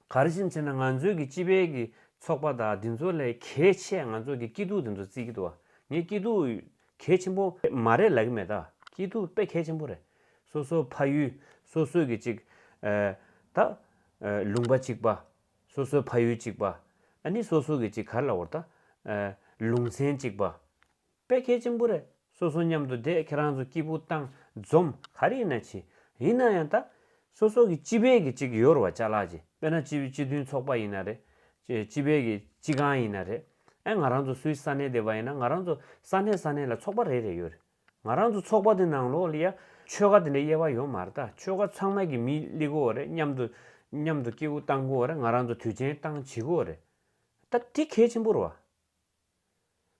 ག་རེ་བཞིན་བྱས་ན་ང་ཚོའི་གི་སྤྱི་པའི་གི་ཚོགས་པ་དག་འདི་ཚོ་ལས་གལ་ཆེ་ང་ཚོ་གི་སྐྱིད་སྡུག་འདི་ཚོ་རྩིས་ཀྱི་འདུག་བ་ངས་སྐྱིད་སྡུག་གལ་ཆེན་པོ་མ་རེད་ལབ་ཀྱི་མེད་ད་སྐྱིད་སྡུག་དཔེ་གལ་ཆེན་པོ་རེད་སོ་སོ་ཕ་ཡུལ་སོ་སོའི་གི་ཅིག་ད་ལུང་པ་ཅིག་པ་སོ་སོའི་ཕ་ཡུལ་ཅིག་པ་ཨ་ནི་སོ་སོ་གི་ཅིག་གར་ལ་བོར་ད་ལུང་ཚན་ཅིག་པ་དཔེ་ཁྱད་ཆེན་པོ་རེད། སོ་སོ་མཉམ་དུ་བསྡད་ཁྱེད་རང་ཚོ་སྐྱིད་པོ་བཏང་འཛོམས་ག་རེ་ཡིན་ན་བྱེད། ཡིན་ན་ཡང་ད། སོ་སོ་གི་སྤྱི་ཕན་གི་ཅིག་ཡོར་བ་ཅག་ལགས་ཀྱི་དཔེ་ན་སྤྱི་སྤྱི་མཐུན་ཚོགས་པ་ཡིན་ན་རེད། སྤྱི་ཕན་གི་སྤྱི་གང་ཡིན་ན་རེད། ཨེ་ང་རང་ཚོ་སུའི་ས་གནས་བསྡད་པ་ཡིན་ན་ང་རང་ཚོ་ས་གནས་ས་གནས་ལ་ཚོགས་པ་རེ་རེ་ཡོད་རེད། ང་རང་ཚོ་ཚོགས་པ་དེ་ནང་ལོགས་ལ་ཡ་ཆོལ་ཁ་དེ་འདྲའི་དབྱེ་བ་ཡོད་མ་རེད་ད་ཆོལ་ཁ་ཚང་མ་གི་མི་གླི་གོ་རེད་མཉམ་དུ། མཉམ་དུ་སྐྱིད་པོ་བཏང་གོ་རེད་ང་རང་ཚོ་དུས་ཆེན་བཏང་བྱེད་གོ་རེད། ད་དེ་ཁྱད་ཆེན་པོ་རེད་བ།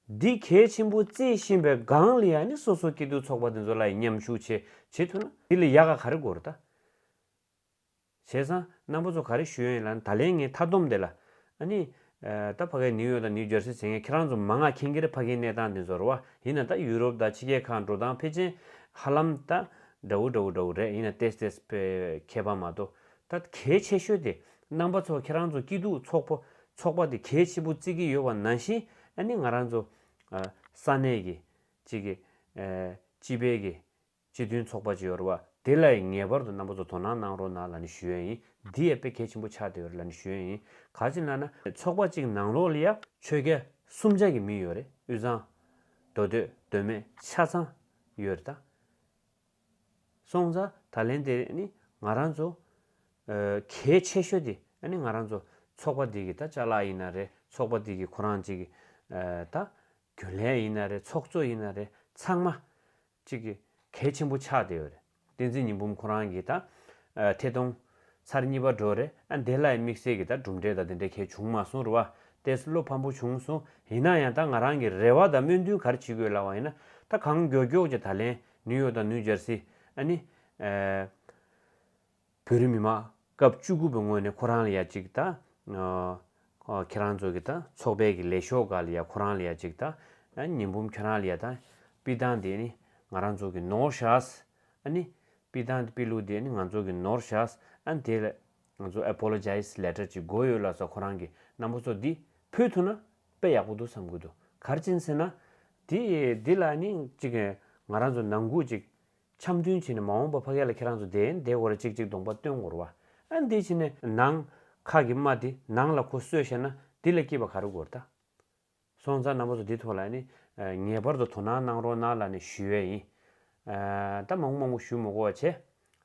འདི་གལ་ཆེན་པོ་བརྩི་བཞིན་པའི་སྒང་ལ་ཡ་ནི་སོ་སོ་སྐྱིད་སྡུག་ཚོགས་པ་དེ་ཚོ་ལ་ཡི་མཉམ་ཞུ་བྱེད་བྱེད་ཐུབ་ན་འདི་ལ་ཡག་ག་ག་རེ་དགོས་རེད་ད། བྱས་ཙང་རྣམ་པ་ཚོ་ག་རེ་ཞུ་ཡ་ཡིན་ལ་ད་ལན་ངའི་མཐའ་བསྡོམས་དེ་ལ། ཨ་ནི། ད་ཕ་གའི་ནིའུ་ཡོག་དང་ནིའུ་ཇར་སི་བྱེད་མཁན་ཁྱེད་རང་ཚོ་མ་མངགས་མཁྱེན་གྱི་རེད་ཕ་གའི་གནས་སྟངས་དེ་ཚོར་བ་ཡིན་ན་ད་ཡུ་རོབ་དང་ཕྱི་རྒྱལ་ཁག་འགྲོ་སྟངས་ཕལ་ཆེན་ཧ་ལམ་ད་འདྲ་བོ་འདྲ་བོ་འདྲ་བོ་རེད་ཡིན་ན་ཏེས་ཏེས་ཕལ་ཁྱད་པར་མ་གཏོགས་ད་གལ་ཆེ་ཤོས་དེ་རྣམ་པ་ཚོ་ཁྱེད་རང་ཚོ་སྐྱིད་སྡུག་ཚོགས་པོ་ཚོགས་པ་དེ་གལ་ཆེ་པོ་བརྩི་གི་ཡོད་བ་ནང་བཞིན་ཨ་ནི་ང་རང་ཚོ་ས་གནས་ཀྱི་གཅིག་གི་སྤྱི་པའི་གི་སྤྱི་མཐུན་ཚོགས་པ་ཅིག་ཡོད་རེད་བ་དེ་ལ་ཡིན་ངེས་པར་དུ་རྣམ་པ་ཚོ་དོ་སྣང་གནང་རོགས་གནང་ལ་ནི་ཞུ་ཡ་ཡིན་འདི་ཡ་དཔེ་གལ་ཆེན་པོ་ཆགས་དེ་ཡོད་རེད་ལ་ནི་ཞུ་ཡ་ཡིན་ག་ཅིག་ལ་ན། ཚོགས་པ་གཅིག་ནང་ལོགས་ལ་ཡ། ཆོས་རྒྱལ་གསུམ་ཆ་གི་མི་ཡོད་རེད་དབུས་གཙང། མདོ་སྟོད་སྟོད་སྨད་ཆ་ཚང་ཡོད་རེད་ད། སོང་ཙང་ད་ལན་དེ་ནི་ང་རང་ཚོ། གལ་ཆེ་ཤོས་དེ་ནི་ང་རང་ཚོ་ཚོགས་པ་འདི་གི་ད་ལྕགས་ལག་ཡིན་ན་རེད་ཚོགས་པ་འདི་གི་ཁོ་རང་ཅིག་གི་ད་རྒྱུན་ལས་ཡིན་ན་རེད་ཚོགས་གཙོ་ཡིན་ན་རེད་ཚང་མ་ཅིག་གི་གལ་ཆེན་པོ་ཆགས་བསྡད་ཡོད་རེད་བསྟན་འཛིན་ཉི་འབུམ་ཁོ་རང་གི་ད་ཐད་གཏོང་ཚར་གཉིས་པ་འགྲོ་རེད་ཨ་འདས་ལ་ཡི་དམིགས་བསལ་གི་ད་གྲུབ་འབྲས་ད་དེ་འདྲས་གལ་བྱུང་མ་སོང་རུ་བ་ཏས་བློ་ཕམ་པོ་བྱུང་སོང་ཡིན་ན་ཡང་ད་ང་རང་གི་རེ་བ་ད་སྨོན་འདུན་གར་བྱེད་དགོས་ལ་བ་ཡིན་ན་ད་གང་མགྱོགས་མགྱོགས་ཀྱི་ད་ལན་ནུས་ཡོད་དང་ནུས་སྦྱར་སི་ཨན་ནི། བོད་རིགས་མི་དམངས་སྐབས་བཅུ་དགུ་པའི་སྔོན་ནས་ཁོ་རང་ལ་ཡ་གཅིག་ད། ཁྱེད་རང་ཚོ་གི་ད་ཚོགས་པའི་གི་ལས་ཤོག་ག་ལ་ཡ་ཁོ་རང་ལ་ཡ་གཅིག་ད། ཉི་འབུམ་ཁྱེད་རང་ལ་ཡ་ད། པི་ཐང་དེ་ནི་ང་རང་ཚོ་གི་ནོར་ཤ་སི་ཨན་ནི། པི་ཐང་དེ་པི་ལུ་དེ་ནི་ང་ཚོ་གི་ནོར་ཤ་སི་ཨན་དེ་ལ། ང་ཚོ Apologize Letter ཅིག་འགོ་ཡོད་ལ་སོགས་ཁོ་རང་གི་རྣམ་པ་ཚོ་འདི་ཕུལ་ཐུབ་ན་དཔེ་ཡག་པོ་འདུག་བསམ་དགོས་འདུག་གར་ཅན་ཟེར་ན། དེ་འདི་ལ་ནི་ཅིག་ང་རང་ཚོ་ནང་འགུག་ཅིག་འཆམ་མཐུན་བྱེད་ནས་མ་འོངས་པ་ཕ་གཡས་ལ་ཁྱེད་རང་ཚོ་འདས་འདས་གོ་རེ་ཅིག་ཅིག་གདོང་པ་སྟོན་གོ་རུ་བ་ཨ་འདི་བྱེད་ནས་ནང་ཁག་གི་དམའ་དེ་ནང་ལ་གོ་གསོས་བཤད་ན་འདི་ལ་སྐྱིད་པ་ག་རུ་གོ་རེ་ད། སོང་ཙང་ནང་པ་ཚོ་འདི་ཐོག་ལ་ནི་ངེས་པར་དུ་དོ་སྣང་གནང་རོགས་གནང་ལ་ནི་ཞུ་ཡས་ཡིན། ད་མང་པོ་མང་པོ་ཞུ་མོ་གོ་བ་བྱས།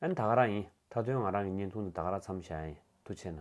ཨ་ནི་ད་ག་རང་ཡིན་ད་དོན་ང་རང་གི་བརྙན་ཐུང་འདི་ད་ག་ར་འཚམ་བཞག་ཡས་དུ་བྱས་ན།